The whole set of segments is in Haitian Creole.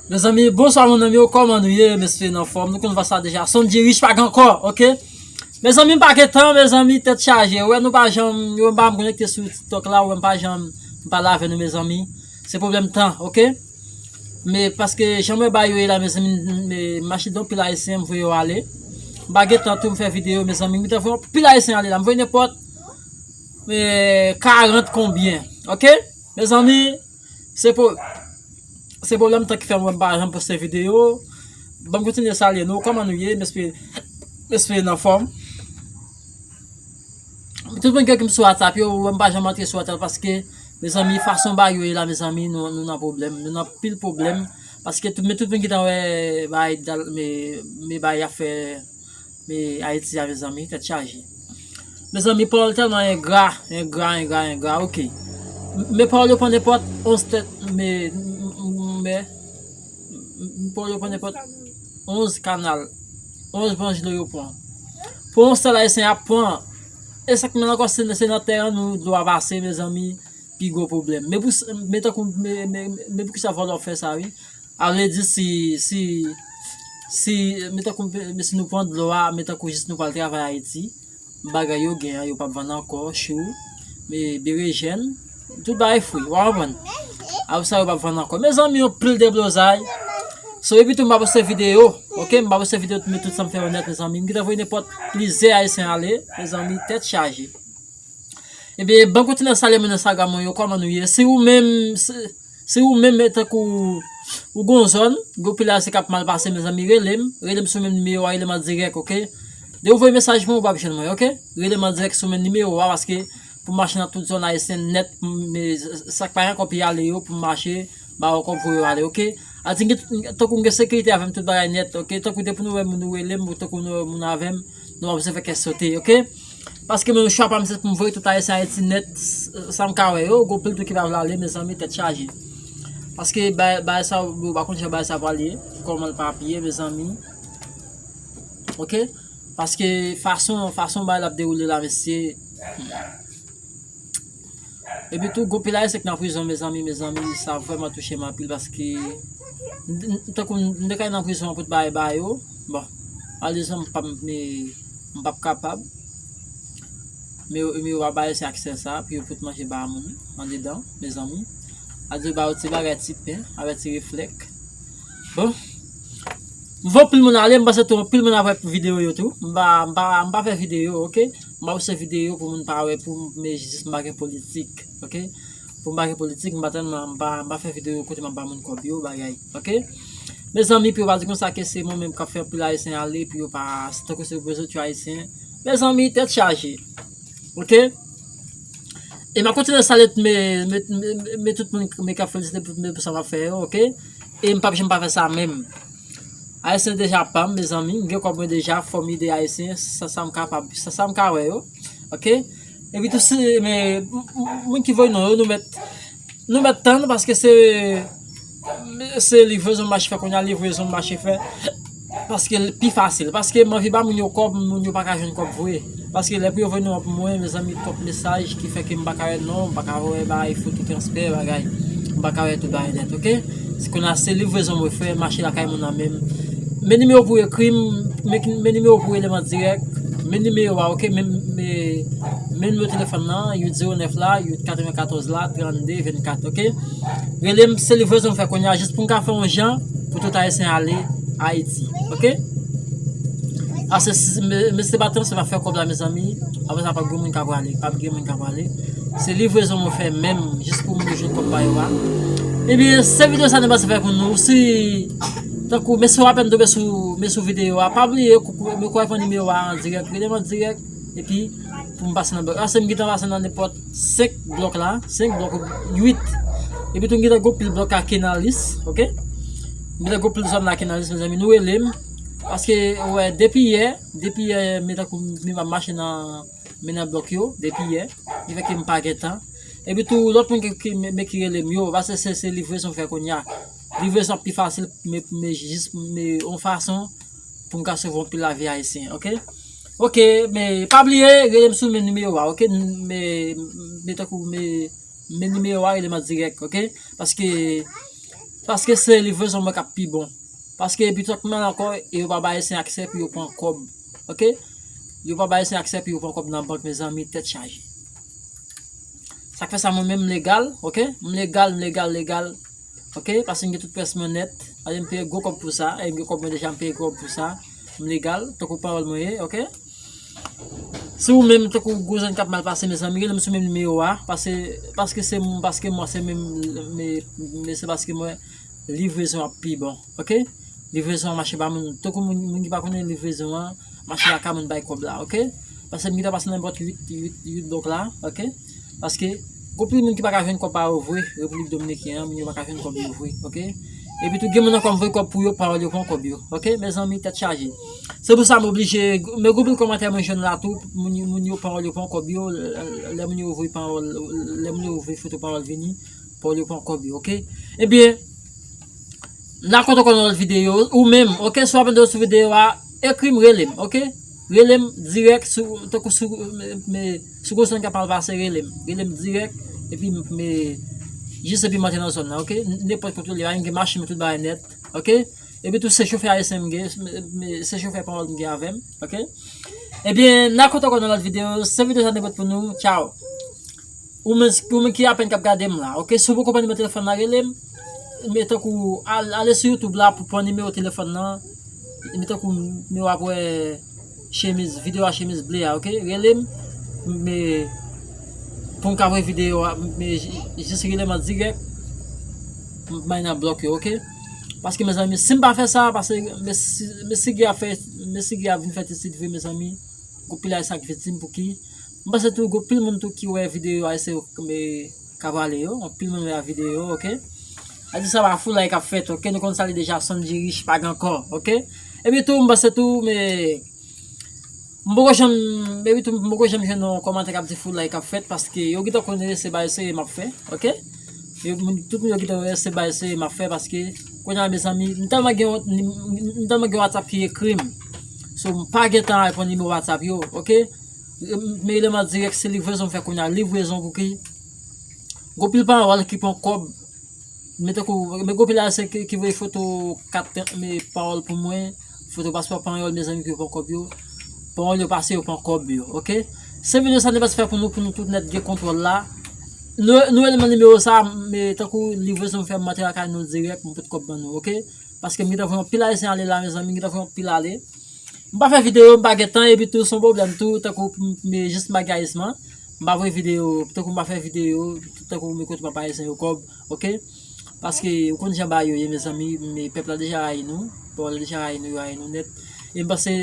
Mezanmi bonswa moun anm yo kòman nou ye m espere nou anfòm nou konn vwa sa deja son di rich pa gen kò ok mezanmi m pa gen tan mezanmi tèt chaje ou wè nou pa janm ou wè m pa janm konekte sou tiktok la ou wè m pa janm pale avè nou mezanmi se pwoblèm tan ok me paske jan m wè bagay yo ye la mezanmi m mache de anpil ayisyen m vwe yo ale m pa gen tan tou m fè videyo mezanmi m gen tan vwe anpil ayisyen ale la m vwe nenpòt 40 konbyen ok. Mezanmi se pou se pou lèm tan ki fèm wèm pa janm poste video banm kontinye salye nou kòman nou ye mespre mespre nan fòm tout moun gen kèm sou whatsapp yo wèm pa janm antre sou whatsapp paske mezanmi fason bagay yo ye la mezanmi nou nan problèm nou nan pil problèm paske tout men tout men ki ta wè bagay dal me bagay ap fè Me ayiti ave zanmi tet chaje. Mezanmi pawol telman engra engra engra engra ok me pawol yo pran nenpot onz tet me me pawol yo pran nenpot onz kanal onz branch dlo yo pran pou yon sel ayisyen ap pran esak pran ankò se nan tè an nou dlo a pase mezanmi pi gwo pwoblem me pou me tankou me me me poukisa vòlò fè sa wi. A vle di si, si, si, men tankou, men si nou pran dlo a, men tankou jis nou pral travay Ayiti, bagay yo gen an, yo pap vann ankò, chou, e berejèn, tout bagay fri, ou a konprann? Apre sa yo pap vann ankò. Mezanmi yon pil deblozay. So epitou m pa poste videyo, ok, m pa poste videyo tout, men tout sa m fè yo nèt mezanmi. M gentan voye nenpòt plizyè Ayisyen ale, mezanmi, tèt chaje. Ebyen, banm kontinye salye moun Instagram mwen yo, kòman nou ye? Si ou menm, si. Si ou menm e tankou ou gon zòn gon pilasè kap mal pase mezanmi relem relem sou menm nimewo a relem an dirèk ok dew voye mesaj mwen ou pap jwenn mwen ok relem an dirèk sou menm nimewo a paske pou mache nan tout zòn ayisyen nèt sak pa gen kòb pi ale yo pou mache ba ou kòb pou yo ale ok ati tankou m gen sekirite avèm tout bagay nèt ok tankou depi nou wèm nou relem tankou nou wè moun avèm nou pa bezwen fè kè sote ok. Paske mwen chwa pam se poum voye tout ayisyen ayiti nèt sam ka wè yo gon pil tou ki pa vle ale mezanmi tèt chaje paske bagay sa yo pa konn jan bagay sa yo pral ye kòman lap ap ye mezanmi ok paske fason fason bagay la ap dewoule la mesye. Epi tou gwo pil ayisyen ki nan prizon mezanmi mezanmi sa vrèman touche m anpil paske tankou m te ka al nan prizon an pou t bagay ba yo bon malerezman m pap me m pap kapab me yo pa bay ayisyen aksè sa pou yo pot manje ba moun andedan mezanmi aldi yo ba yo ti bagay ti pen avè ti reflèk bon m vè anpil moun ale m panse tou anpil moun ap wè videyo yo tou m pa m pa fè videyo ok. M pa poste videyo pou moun pa wè pou m me jis m pa gen politik ok pou m pa gen politik m pa tèlman m pa fè videyo kote m ap ba moun kòb yo bagay ok mezanmi pou yo pa di konsa ke se mwen menm k ap fè anpil ayisyen ale pou yo pa se tankou se vre zòt yo ayisyen mezanmi tèt chaje ok e m ap kontinye salye tout me tout moun k ap felisite m pou sa m ap fè yo ok e m p ap janm pa fè sa menm. Ayisyen deja pam mezanmi m gen kob mwen deja fom ede ayisyen sa sam kapab sa sam ka we yo ok epi tou si me moun ki voy non yo nou met nou met tann paske se se livrezon mache fè kounye a livrezon mache fè paske pi fasil paske m anvi ba moun yo kob moun yo paka jwenn kob vwe. Paske lè pou yo voye non pou mwen mezanmi twòp mesaj ki fè ke m pa ka wè non, m pa ka wè bagay foto transfè bagay, m pa ka wè tout bagay nèt ok. Si konn a se livrezon mwen fè mache lakay moun nan menm men nimewo pou ekri m, men nimewo pou rele m an dirèk, men nimewo a ok, men nimewo telefòn nan 809 la, 894 la, 32 24 ok. Rele m se livrezon m fè kounya jis pou m ka fè yon jan pou tout ayisyen ale ayiti. Ok Ase mesye se pa tanm se pa fè kòb la mezanmi Apre sa pap gen moun ka prale Pap gen moun ka prale Se livrezon mwen fè menm jis pou moun yo jwenn kòb pa yo a Ebyen se videyo sa nou te pase fè pou nou Si Tankou mesye w apèn tonbe sou Men sou videyo a Pa bliye mwen kwè fè nimewo a an dirèk Rele m an dirèk Epi Pou m pase nan Ase m gentan pase nan nenpòt 5 blòk la, 5 blòk ou gen 8. Epi tou m gen tan gwo pil blòk akenalis, ok. M gen tan gwo pil zòn nan akenalis mezanmi, nou rele m. Paske ou wè depi yè, depi yè m gen tankou m ap mache nan men nan blòk yo, depi yè. Ki fè ke m pa gen tan. Epi tou lòt moun ki m ekri rele m yo, paske se livrezon m fè kounya. Livrezon ap pi fasil pou m jis m yon fason pou m ka sove yon pil lavi ayisyen, ok. Ok me pa bliye relem sou men nimewo a ok me me tankou me men nimewo a relem an dirèk ok paske paske se livrezon mwen kap pi bon paske epi tout mwen ankò e yo pa bay ayisyen aksè pou yo pran kòb ok yo pa bay ayisyen aksè pou yo pran kòb nan bank mezanmi tèt chaje sak fè sa mwen menm m legal ok m legal m legal legal ok paske m gen tout pyès mwen nèt alye m peye gwo kòb pou sa e m gen kòb mwen deja m peye gwo kòb pou sa. M legal, tankou pawòl mwen ye, ok? Si ou menm tankou gwo zòn kap mal pase mezanmi rele m sou menm nimewo a, pase paske se mwen paske mwen se menm men se paske mwen livrezon ap pi bon, ok? Livrezon an mache ba moun, tankou moun ki pa konnen livrezon an, mache lakay moun bay kòb la, ok? Pase m gintan pase nan bòt 8 8 8 blòk la, ok? Paske gwo pil moun ki pa ka jwenn kòb pa yo vwe Repiblik Dominiken an, moun yo pa ka jwenn kòb yo vwe ok. Epi tou gen moun ankò m voye kòb pou yo pawòl yo pran kòb yo ok mezanmi tèt chaje. Se pou sa m oblije, men gwo pil kòmantè mwen jwenn la tou moun yo pawòl yo pran kòb yo lè moun yo voye pawòl lè moun yo voye foto pawòl vini pawòl yo pran kòb yo ok. Ebyen N ap kontan kontan lòt videyo ou menm ok si w ap ede yo sou videyo a ekri m rele m ok. Relem direk tankou sou kozon kap mal pase relem. Relem direk epi me jis epi mante nan zon nan ok. Nenpot kote ou ye la m gen machin mwen tout bagay net ok. Epi tou se chofè ayisyen m gen se chofè panyòl m gen avèm ok. Ebyen na kontan kon nan lòt videyo se videyo sa te pote pou nou tchaw. Ou menm ou menm ki apèn kap gadem la ok si ou poko pran nimewo telefòn la relem men tankou ale sou YouTube la pou pran nimewo telefòn nan men tankou men wap wè chemiz video a chemiz ble a ok relem men poum ka wè video a men jis relem an dirèk m bay nan blòk yo ok paske mezanmi sim pa fè sa pase mesi gee ap fè mesi gee ap vin fè ti sit vre mezanmi gou pil ayisyen ap viktim pouki. M panse tou gen anpil moun tou ki wè videyo a ese yo kme ka pale yo anpil moun wè a videyo yo ok adi sa pa foulay kap fèt ok nou konn sa li deja sondji rich pa gen kò ok epi tou m panse tou me m poko janm epi tou m poko janm jwenn yon kòmantè kap di foulay kap fèt paske yo gentan konnen se bay se map fè ok yo moun tout moun yo gentan wè se bay se map fè paske kounye a mezanmi m tèlman gen wont ni m tèlman gen whatsapp ki ekrim sou m pa gentan reponn nimewo whatsapp yo ok. Men eleman dirèk se livrezon m fè kounye a, livrezon pou ki? Gon pil pawòl ki pran kòb, men tankou, men gon pil ayisyen ki voye foto kat men pawòl pou mwen, foto paspò panyòl mezanmi pou yo pran kòb yo, pawòl yo pase yo pran kòb yo, ok? Se videyo sa nou pral fè pou nou, pou nou tout nèt gen kontwòl la, nou eleman nimewo sa, men tankou livrezon m fè m antre lakay nou dirèk, m pot kòb ban nou, ok? Paske m gentan voye anpil ayisyen ale la mezanmi, m gentan voye anpil ale. M pa fè videyo, m pa gen tan epi tou son pwoblèm tou tankou pou m jis m make ayisman m pa voye videyo tankou m pa fè videyo tankou m kote m ap bay ayisyen yo kòb ok paske ou konn jan bagay yo ye mezanmi pèp la deja rayi nou pèp la deja rayi nou yo rayi nou nèt e m panse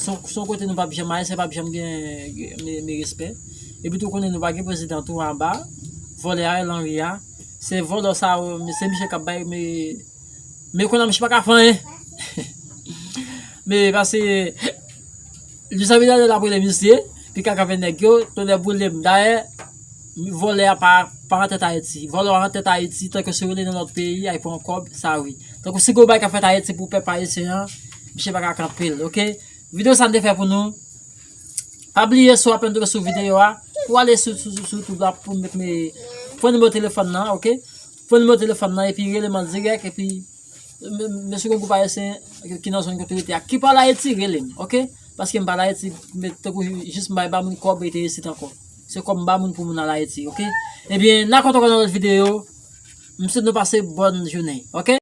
son kote nou pap janm ayisyen pap janm gen men respè epi tou ou konnen nou pa gen prezidan tou anba vòlè Ariel Henry a se vòlò sa yo se misye k ap bay men Men konnya misye paka fè anyen. Men pase Luis Abinader ap rele misye, li ka kanpe nèg yo, tonnè boulem. Dayè, vòlè a pa nan tèt Ayiti. Vòlè a nan tèt Ayiti tanke si w rele nan lòt peyi al pran kòb, sa wi. Tanke si gon bagay k ap fèt Ayiti pou pèp ayisyen an, misye pa ka kanpe l, ok. Videyo sa m te fè pou nou. Pa bliye si w apenn tonbe sou videyo a, pou w ale sou YouTube la pou m met fon nimewo telefòn nan, ok. Pran nimewo telefòn nan epi rele m an dirèk epi mesye gen yon gwoup ayisyen ki nan zòn kote ou rete a ki pa al Ayiti rele m ok paske m pa al Ayiti tankou jis m bay ba moun kòb rete isit ankò se kòb m ba moun pou moun al Ayiti ok ebyen n a kontan kò nan lòt videyo m swete nou pase bòn jounen ok.